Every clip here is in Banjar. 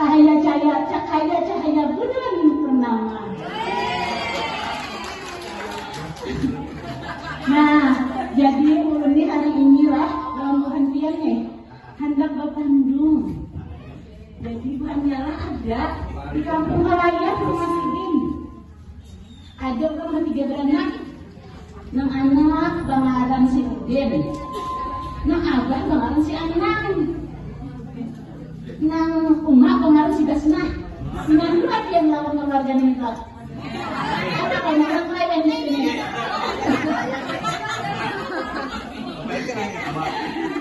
Cahaya cahaya cahaya cahaya bulan purnama. Nah, jadi ulun nih hari inilah lawan buhantian nih hendak bertandung. Jadi buhannya lah ada di kampung halayak rumah sidin. Ada orang mah tiga beranak. Nang anak bangaran si Udin. Nang abah bangaran si Anang. Nang umah bangaran si Basna. Nang dua yang lawan keluarga nih Ada kan anak lain di sini.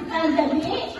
Nah, jadi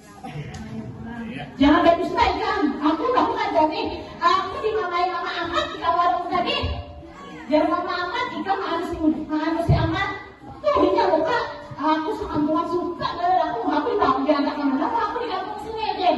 Jangan badusta ikam, aku tahu kada nih, aku dimangai mama amat di kawarung tadi. Jar mama amat, ikam maanusi maanusi amat, tuh inya muka, aku sakampungan suka banar aku, aku dibawa ke diantar ka mana kah aku di kampung sini Din.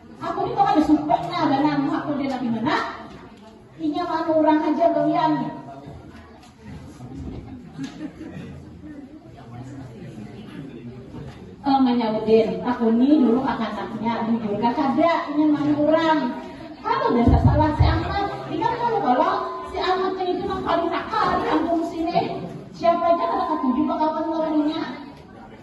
Aku ni kada suka nah banar muha kode nabi mana inya manu urang haja gawian nya. Kang manyaudin, aku ni dulu kakanaknya bujur kah kada inya manu urang. Kada udah sasalah si Ahmad, ingat kamu kalo si Ahmad nya itu nang paling nakal di kampung sini. Siapa aja kada katuju bakawan lawan inya.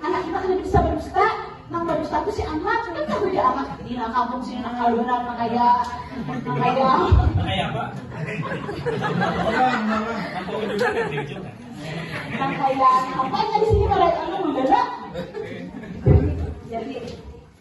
Anak kita kada bisa badusta, nang badusta tu si Amat, kan tahu ja Amat ini nang kampung sini nang kalunan nang kaya nang kaya. Nang kaya apa? nang kaya apa nya di sini kada anu jadi jadi